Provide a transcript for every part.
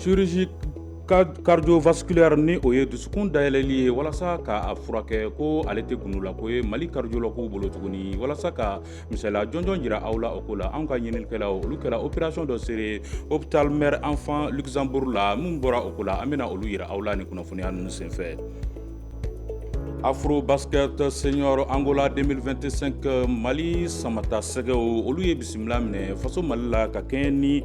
chirurgie cardiovasculaire ni o ye dusukun dayɛlɛli ye walasa k'a furakɛ ko ale tɛ gundolako ye mali cardiologuw bolo tuguni walasa ka Misaliya jɔnjɔn jira aw la o ko la an ka ɲininikɛlaw olu kɛra opération dɔ seere hôpital Mère Enfant Luxembourg la min bɔra o ko la an bɛna olu yira aw la ni kunnafoniya ninnu senfɛ Afrobasket Senior Angola 2025 mali samatasɛgɛw olu ye bisimila minɛ faso mali la ka kɛɲɛ ni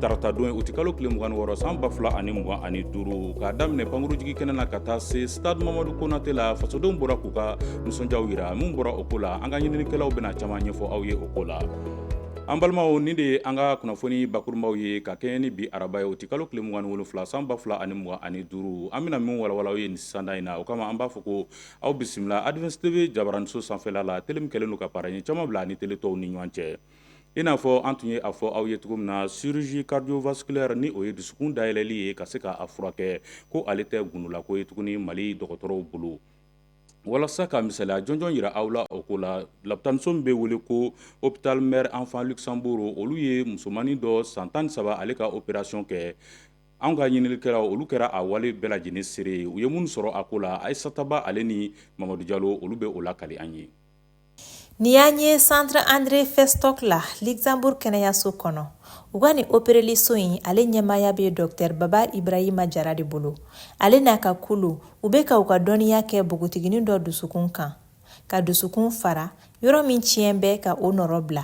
tarata don ye uti kalo tile mugan ni wɔɔrɔ san ba fila ani mugan ani duuru k'a daminɛ pankurunjigi kɛnɛ na ka taa se Stade Mamadu Konatɛ la fasodenw bɔra u ka nisɔndiyaw yira min bɔra o ko la an ka ɲininikɛlaw bɛna caman ɲɛfɔ aw ye o ko la an balimaw nin de ye an ka kunnafoni bakurunbaw ye ka kɛɲɛ ni bi araba ye uti kalo tile mugan ni wolonwula san ba fila ani mugan ani duuru an bɛna min walawala aw ye nin sanda in na o kama an b'a fɔ ko aw bisimila Advance TV jabaraniso sanfɛla la tele min kɛlen don ka paraɲɛ caman bila a ni tele tɔw ni ɲɔgɔn cɛ i n'a fɔ an tun ye a fɔ aw ye cogo min na chirurgie cardiovasculaire ni o ye dusukun dayɛlɛli ye ka se k'a furakɛ ko ale tɛ gundolako ye tuguni mali dɔgɔtɔrɔw bolo walasa ka misaliya jɔnjɔn yira aw la o ko la lapitaniso min bɛ wele ko hôpital Mère Enfant Luxembourg olu ye musomannin dɔ san tan ni saba ale ka opération kɛ an ka ɲininikɛlaw olu kɛra a wale bɛɛ lajɛlen seere u ye minnu sɔrɔ a ko la Ayisata Ba ale ni mamadu jalo olu bɛ o lakali an ye Ni y'an ye Centre André Festoc la Luxembourg kɛnɛyaso kɔnɔ u ka nin opereliso in ale ɲɛmaaya bɛ dɔkitɛri Baba Ibrahima jara de bolo ale n'a ka kulu u bɛ ka u ka dɔnniya kɛ npogotiginin dɔ dusukun kan ka dusukun fara yɔrɔ min tiɲɛ bɛ ka o nɔ bila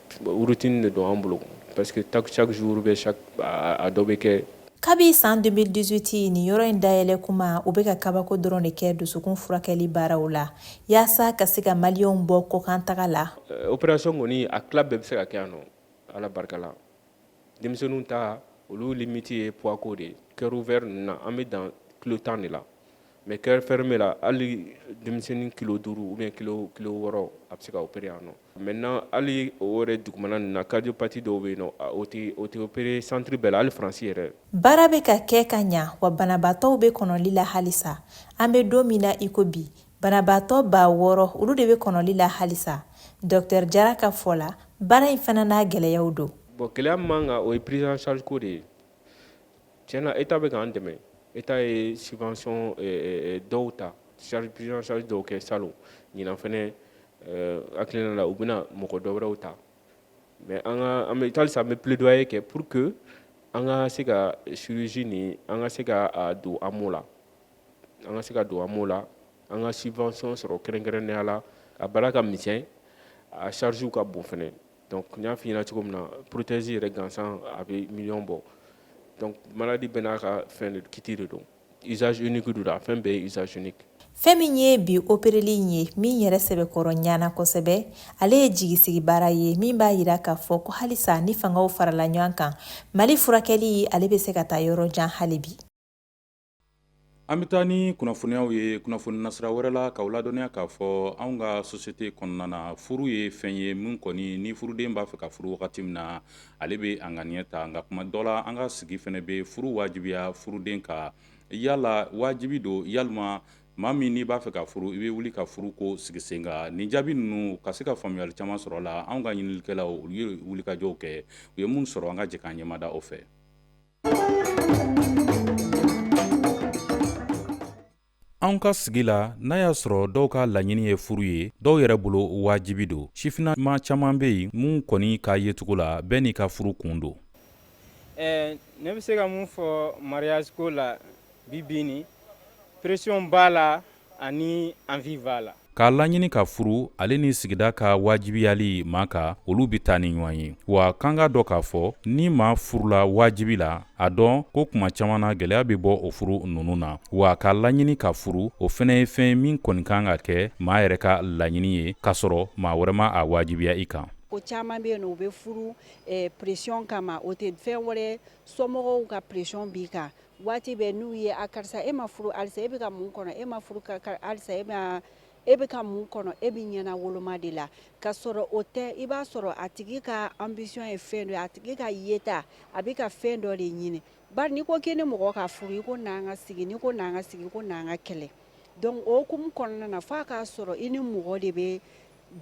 Routine de don an bolo parce que chaque jour bɛɛ a dɔ bɛ kɛ kabi san 2018 nin yɔrɔ in dayɛlɛ kuma u bɛ ka kabako dɔrɔn de kɛ dusukun furakɛli baaraw la yaasa ka se ka maliyɛnw bɔ kɔkan taga la euh, operation kɔni a tila bɛɛ bɛ se ka kɛ yan nɔ ala barika la denmisɛnninw ta olu limiti ye poids ko de ye cœur ouvert ninnu na an bɛ dan kilo tan de la mais cœur fermé la hali denmisɛnnin kilo duuru ou bien kilo wɔɔrɔ a bɛ se ka opérer yan nɔ Maintenant hali o yɛrɛ dugumana ninnu na cardiopathie dɔw bɛ yen nɔ o tɛ opérer centre bɛɛ la hali faransi yɛrɛ baara bɛ ka kɛ ka ɲɛ wa banabaatɔw bɛ kɔnɔli la halisa an bɛ don min na iko bi banabaatɔ baa wɔɔrɔ olu de bɛ kɔnɔli la halisa dɔkitɛri jara ka fɔ la baara in fana n'a gɛlɛyaw don bon gɛlɛya man kan o ye prise en charge ko de ye Tiɲɛna e ta bɛ k'an dɛmɛ e ta ye sifasɔn dɔw ta sarisari dɔw kɛ sa ɲin fana hakiliki la u bɛna mɔgɔ dɔw wɛrɛw ta mɛ an bɛ taasa an bɛ p dɔw ye kɛ pur que an ka se ka surusi ni an ka se ka don an la an ka se ka don an la an ka sifasɔn sɔrɔ kɛrɛnkɛrɛn neyala a bala ka mi a sarisiw ka bon fana Donc n y'a f'i ɲɛna cogo min na prothèse yɛrɛ gansan a bɛ million bɔ donc malade bɛɛ n'a ka fɛn de kit de don usage unique don a fɛn bɛɛ ye usage unique Fɛn min ye bi opereli in ye min yɛrɛ sɛbɛkɔrɔ ɲana kosɛbɛ, ale ye jigisigi baara ye min b'a jira k'a fɔ ko halisa ni fangaw farala ɲɔgɔn kan, Mali furakɛli ale bɛ se ka taa yɔrɔ jan hali bi. An bɛ taa ni kunnafoniyaw ye kunnafoni nasira wɛrɛ la k'aw ladɔnniya k'a fɔ an ka sosiyete kɔnɔna na furu ye fɛn ye min kɔni ni furuden b'a fɛ ka furu wagati min na ale bɛ a ŋaniya ta nka kuma dɔ la an ka sigi fana bɛ furu wajibiya furuden kan yala wajibi don yalima maa min n'i b'a fɛ ka furu i bɛ wuli ka furu k'o sigi sen kan nin jaabi ninnu ka se ka faamuyali caman sɔrɔ la an ka ɲininikɛlaw olu ye wulikajɔw kɛ u ye mun sɔrɔ an ka jɛ k'an ɲɛmada o fɛ An ka sigi la n'a y'a sɔrɔ dɔw ka laɲini ye furu ye dɔw yɛrɛ bolo wajibi don sifinnama caman bɛ yen minnu kɔni ka yecogo la bɛɛ n'i ka furu kun don ne bɛ se ka mun fɔ mariage ko la bi ni pression b'a la ani envie b'a la k'a laɲini ka furu ale ni sigida ka wajibiyali maa kan olu bɛ taa ni ɲɔgɔn ye wa k'an k'a dɔn k'a fɔ ni maa furula wajibi la a dɔn ko kuma caman na gɛlɛya bɛ bɔ o furu ninnu na wa k'a laɲini ka furu o fana ye fɛn min kɔni kan ka kɛ maa yɛrɛ ka laɲini ye k'a sɔrɔ maa wɛrɛ ma a wajibiya i kan ko caman bɛ yen u bɛ furu eh, pression kama o tɛ fɛn wɛrɛ somɔgɔw ka pression b'i kan waati bɛɛ n'u ye a karisa e ma furu halisa e bɛ ka mun kɔnɔ e ma furu halisa e ma e bɛ ka mun kɔnɔ e bɛ ɲɛnawoloma de la k'a sɔrɔ o tɛ i b'a sɔrɔ a tigi ka ambition ye fɛn dɔ a tigi ka yeta a bɛ ka fɛn dɔ de ɲini bari n'i ko k'i ni mɔgɔ ka furu i ko n'an ka sigi n'i ko n'an ka sigi ko n'an ka kɛlɛ donc o hukumu kɔnɔna na fo a k'a sɔrɔ i ni mɔgɔ de bɛ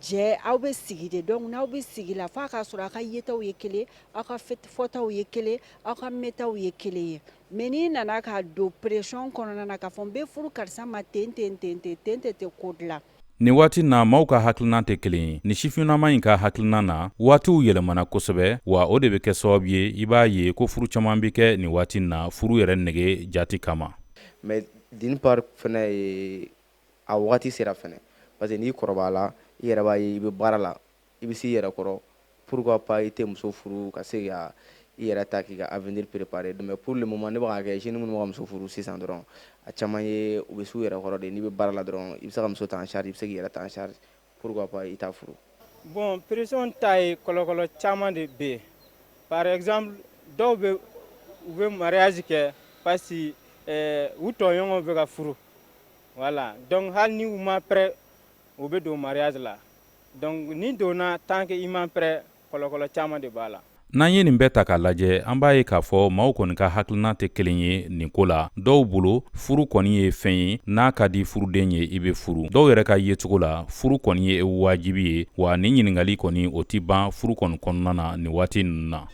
Jɛ aw bɛ sigi de donc n'aw bɛ sigi la fo a k'a sɔrɔ aw ka yetaw ye kelen aw ka fɔtaw ye kelen aw ka mɛntaw ye kelen ye mais n'i nana ka don pression kɔnɔna na k'a fɔ n bɛ furu karisa ma ten ten ten ten tɛ ko dilan Nin waati na maaw ka hakilinan tɛ kelen ye. Nin sifinnama in ka hakilinan na, waatiw yɛlɛmana kosɛbɛ, wa o de bɛ kɛ sababu ye i b'a ye ko furu caman bɛ kɛ nin waati in na furu yɛrɛ nege jati kama. Mais d'une part fana ye a wagati sera fana parce que n'i kɔrɔbayala i yɛrɛ b'a ye i bɛ baara la i bɛ s'i yɛrɛ kɔrɔ pourquoi pas i tɛ muso furu ka se ka i yɛrɛ ta k'i ka avenir préparer donc mais pour le moment ne bɛ k'a kɛ jeunes minnu bɛ ka muso furu sisan dɔrɔn a caman ye u bɛ s'u yɛrɛ kɔrɔ de n'i bɛ baara la dɔrɔn i bɛ se ka muso ta en charge i bɛ se k'i yɛrɛ ta en charge Pourquoi pas i t'a furu? Bon pression ta ye kɔlɔkɔlɔ caman de bɛ yen par exemple dɔw bɛ u bɛ mariage kɛ parce que eh, u tɔɲɔgɔnw bɛ ka furu voilà donc hali ni u ma prêt u bɛ don mariage la donc n'i donna tant que i ma prêt caman de b'a la n'an ye nin bɛɛ ta k'a lajɛ an b'a ye k'a fɔ maaw kɔni ka hakilinan tɛ kelen ye nin ko la dɔw bolo furu kɔni ye fɛn ye n'a ka di furuden ye i bɛ furu dɔw yɛrɛ ka yecogo la furu kɔni ye wajibi ye wa nin ɲininkali kɔni o tɛ ban furu kɔni kɔnɔna na nin waati ninnu na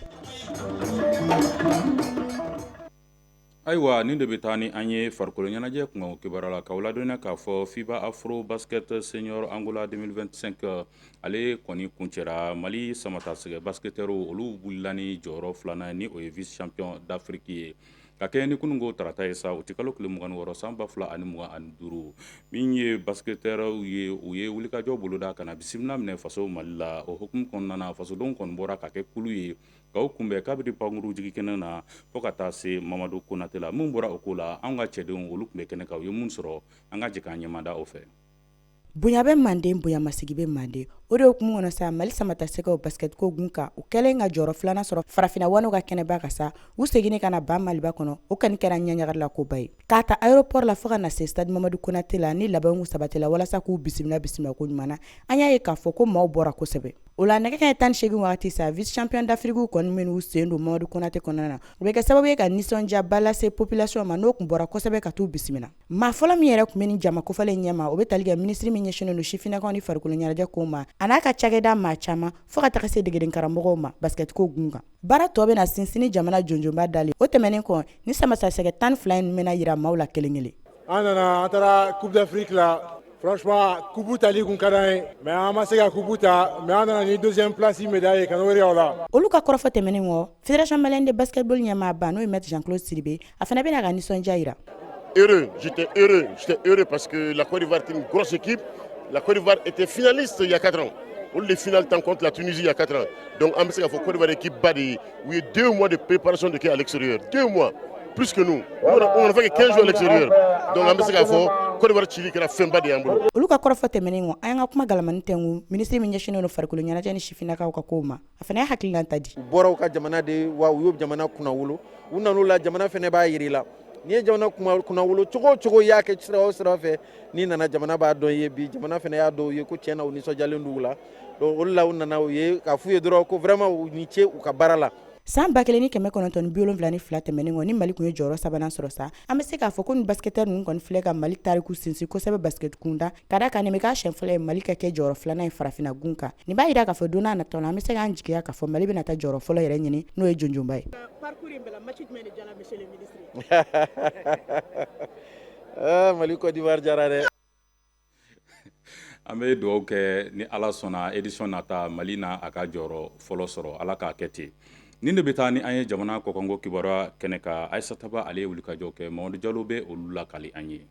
Ayiwa nin de bɛ taa ni an ye farikolo ɲɛnajɛ kunkan kibaru la k'aw ladɔnniya k'a fɔ FIBA afro basket senior angola 2025 ale kɔni kuncɛra mali samatasɛgɛ basketɛriw olu wulila ni jɔyɔrɔ filanan ni o ye vice champion d'afrique ye ka kɛɲɛ ni kununko tarata ye sa uti kalo tile mugan ni wɔɔrɔ san baa fila ani mugan ani duuru min ye basketɛriw ye u ye wulikajɔ boloda ka na bisimila minɛ faso mali la o hukumu kɔnɔna na fasodenw kɔni bɔra ka kɛ kulu ye k'u kunbɛn kabiri pankurun jigin kɛnɛ na fo ka taa se mamadu konatɛ la min bɔra o ko la an ka cɛdenw olu tun bɛ kɛnɛ kan u ye min sɔrɔ an ka jɛ k'an ɲɛmada o fɛ bonya bɛ manden bonyamasegin bɛ manden o de hukumu kɔnɔ sa mali samatasɛgɛw basketko gun kan u kɛlen ka jɔyɔrɔ filanan sɔrɔ farafinna ŋanaw ka kɛnɛba kan sa u seginnen ka na ba maliba kɔnɔ o kɔni kɛra ɲagarila koba ye K'a ta aéroport la fo ka na se stade Mamadu Konate la ni labɛnw sabatila walasa k'u bisimila bisimila ko ɲuman na, an y'a ye k'a fɔ ko maaw bɔra kosɛbɛ. O la nɛgɛ kanɲɛ 18 wagati sa, vice champion d'Afrique kɔni minnu sen don Mamadu Konate kɔnɔna na, o bɛ kɛ sababu ye ka nisɔndiyaba lase population ma, n'o tun bɔra kosɛbɛ ka t'u bisimila. Maa fɔlɔ min yɛrɛ tun bɛ nin jama kofɔlen ɲɛma, o bɛ tali kɛ minisiri min ɲɛsinnen don sifinnakaw ni farikoloɲɛnajɛ kow ma, a n'a ka cakɛda maa caman, fo ka taga se degedenkaramɔgɔw ma basikɛtiko gun kan. baara tɔ bɛna sinsin ni jamana janjonba dali o tɛmɛnen kɔ ni samatasɛgɛ tan ni fila in bɛna jira maaw la kelen kelen an nana an taara coupe d'afrique la franchement coupe tali kun ka d'an ye mais an ma se ka coupe ta mais an nana ni deuxième place médaille ye ka n'o jira aw la olu ka kɔrɔfɔ tɛmɛnen kɔ fédération malienne de basketball ɲɛmaaba n'o ye maître jean claude sidibe a fana bɛn'a ka nisɔndiya jira heureux j'étais heureux j'étais heureux parce que la Côte d'Ivoire était une grosse équipe la Côte d'Ivoire était finaliste il y a 4 ans olu de finale tan contre la Tunisie il y a 4 ans donc an bɛ se k'a fɔ Côte d'Ivoire équipe ba de ye u ye 2 mois de préparation de kɛ à l'extérieur 2 mois plus que nous on a fait que 15 jours à l'extérieur donc an bɛ se k'a fɔ Côte d'Ivoire cili kɛra fɛnba de y'an bolo olu ka kɔrɔfɔ tɛmɛnen kɔ an y'an ka kuma galamani tɛngu ministre min ɲɛsinnen don farikolo ɲɛnajɛ ni sifinnakaw ka kow ma a fana y'a hakilina ta di u bɔra u ka jamana de wa u y'o jamana kunnawolo u nan'u la jamana fana b'a jir'i la n'i ye jamana kunnawolo cogo o cogo y'a kɛ sira o sira fɛ n'i nana jamana b'a dɔn i ye bi jamana fana y'a dɔn u ye ko tiɲɛ na u nisɔndiyalen don u la donc olu la u nana u ye k'a f'u ye dɔrɔn ko vraiment u ni ce u ka baara la san ba kelen ni kɛmɛ kɔnɔntɔn biwolonwula ni fila tɛmɛnen kɔ ni mali tun ye jɔyɔrɔ sabanan sɔrɔ sa an bɛ se k'a fɔ ko ni basketteur ninnu kɔni filɛ ka mali tariku sinsin kosɛbɛ basket kunda Ka da kan nin bɛ k'a siɲɛ fɔlɔ ye Mali ka kɛ jɔyɔrɔ 2 nan ye farafinna gun kan, nin b'a jira k'a fɔ don n'a nataw la, an bɛ se k'an jigiya k'a fɔ Mali bɛna taa jɔyɔrɔ fɔlɔ yɛrɛ ɲini n'o ye jɔnjɔnba ye. Parcours in bɛɛ la match jumɛn de diyala monsieur le ministre ye? Aa Mali Cote d'Ivoire diyara dɛ! An bɛ dugawu kɛ ni Ala sɔnna édition nata Mali na a ka jɔyɔrɔ fɔlɔ sɔrɔ, Ala k'a kɛ ten. Nin de bɛ taa ni an ye jamana kɔkanko kibaruya kɛnɛ kan, Aissata Ba ale ye wulikajɔw kɛ, Mamadu Jalo bɛ olu lakali an ye.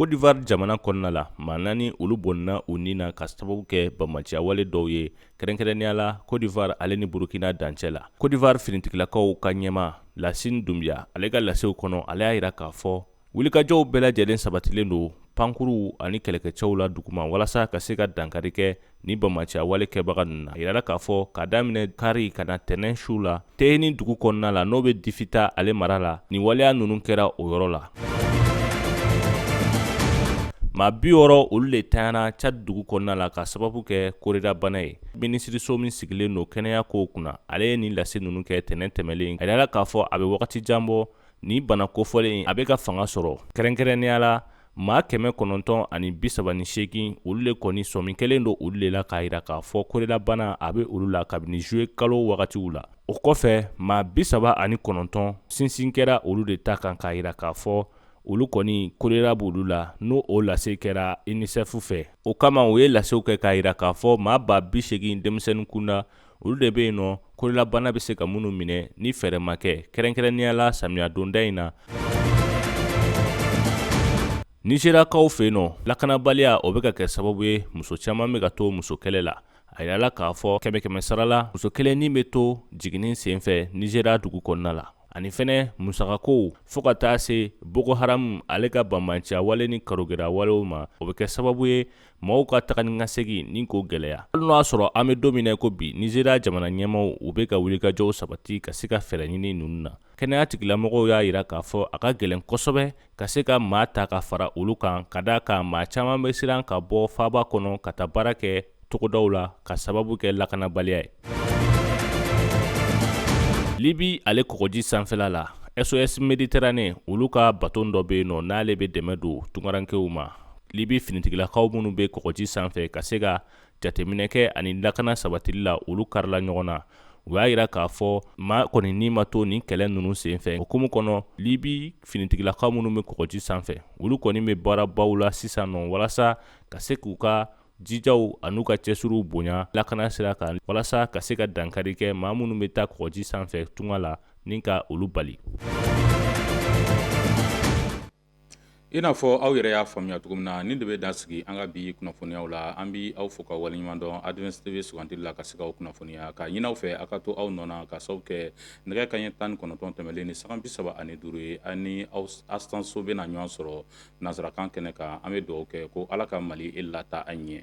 Cote d'Ivoire jamana kɔnɔna la maa naani olu bɔnna u ni na ka sababu kɛ banbaanciya wale dɔw ye kɛrɛnkɛrɛnnenya la Cote d'Ivoire ale ni burukina dancɛ la Cote d'Ivoire finitigilakaw ka ɲɛmaa lasin dunbiya ale ka lasew kɔnɔ ale y'a jira k'a fɔ wulikajɔw bɛɛ lajɛlen sabatilen don pankurunw ani kɛlɛkɛcɛw la duguma walasa ka se ka dankari kɛ ni banbaanciya wale kɛbaga ninnu na a jirala k'a fɔ k'a daminɛ kari ka na tɛnɛn su la tehini dugu kɔnɔna la n'o bɛ difita ale mara la ni waleya ninnu kɛra o yɔrɔ la maa biwɔɔrɔ olu de tayana tchad dugu kɔnɔna la ka sababu kɛ kolera bana ye minisiriso min sigilen don kɛnɛya kow kunna ale ye nin lase ninnu kɛ tɛnɛn tɛmɛlen a jirala k'a fɔ a bɛ wagati jan bɔ ni bana kofɔlen a bɛ ka fanga sɔrɔ kɛrɛnkɛrɛnnenya la maa kɛmɛ kɔnɔntɔn ani bisaba ni seegin olu le kɔni sɔmi kɛlen don olu le la k'a yira k'a fɔ kolera bana a be olu la kabini juillet kalo wagatiw la o kɔfɛ maa bisaba ani kɔnɔntɔn sinsin kɛra olu de ta kan k'a yira k'a fɔ olu kɔni kolera b'olu la n'o o lase kɛra unicef fɛ o kama u ye lasew kɛ k'a yira k'a fɔ maa ba biseegin denmisɛnnin kunda olu de bɛ yen nɔ kolera bana bɛ se ka minnu minɛ ni fɛɛrɛ ma kɛ kɛrɛnkɛrɛnnenya la samiya donda in na nizeriyakaw fɛ yen nɔ lakanabaliya o bɛ ka kɛ sababu ye muso caman bɛ ka to musokɛlɛ la a yirala k'a fɔ kɛmɛ kɛmɛ sara la muso kelen ni bɛ to jiginni senfɛ nizeriya dugu kɔnɔna la ani fɛnɛ musakakow fɔɔ ka taa se boko haramu ale ka banbaanciya wale ni karogɛlɛya walew ma o bɛ kɛ sababu ye maaw ka taga ni ka segin ni k'o gɛlɛya hali n'o y'a sɔrɔ an bɛ don min na ko bi nizeriya jamana ɲɛmaaw u bɛ ka wulikajɔw sabati ka se ka fɛɛrɛ ɲini ninnu na kɛnɛya tigilamɔgɔw y'a jira k'a fɔ a ka gɛlɛn kosɛbɛ ka se ka maa ta ka fara olu kan ka d'a kan maa caman bɛ siran ka bɔ faaba kɔnɔ ka taa baara kɛ togodaw la ka sababu kɛ lakanabaliya ye libi ale kɔgɔji sanfɛla la sos mediterane olu ka baton dɔ bɛ yen nɔ n'ale bɛ dɛmɛ don tungarankew ma libi finitigilakaw minnu bɛ kɔgɔji sanfɛ ka se ka jateminɛkɛ ani lakana sabatili la olu karila ɲɔgɔn na u y'a jira k'a fɔ maa kɔni ni ma to nin kɛlɛ ninnu senfɛ o hukumu kɔnɔ libi finitigilakaw minnu bɛ kɔgɔji sanfɛ olu kɔni bɛ baarabaw la sisan nɔ walasa ka se k'u ka jijaw ani u ka cɛsiriw bonya lakana sira kan walasa ka se ka dankari kɛ maa minnu bɛ taa kɔgɔji sanfɛ tunga la ni ka olu bali i n'a fɔ aw yɛrɛ y'a faamuya cogo min na nin de bɛ dan sigi an ka bi kunnafoniyaw la an bɛ aw fo ka waleɲuman dɔn advance tv sugandili la ka se k'aw kunnafoniya k'a ɲini aw fɛ aw ka to aw nɔ na k'a sababu kɛ nɛgɛ kanɲɛ tan ni kɔnɔntɔn tɛmɛnlen ni sanga bi saba ani duuru ye ani aw astan so bɛ na ɲɔgɔn sɔrɔ nansarakan kɛnɛ kan an bɛ dugawu kɛ ko ala ka mali in lataa ɲɛ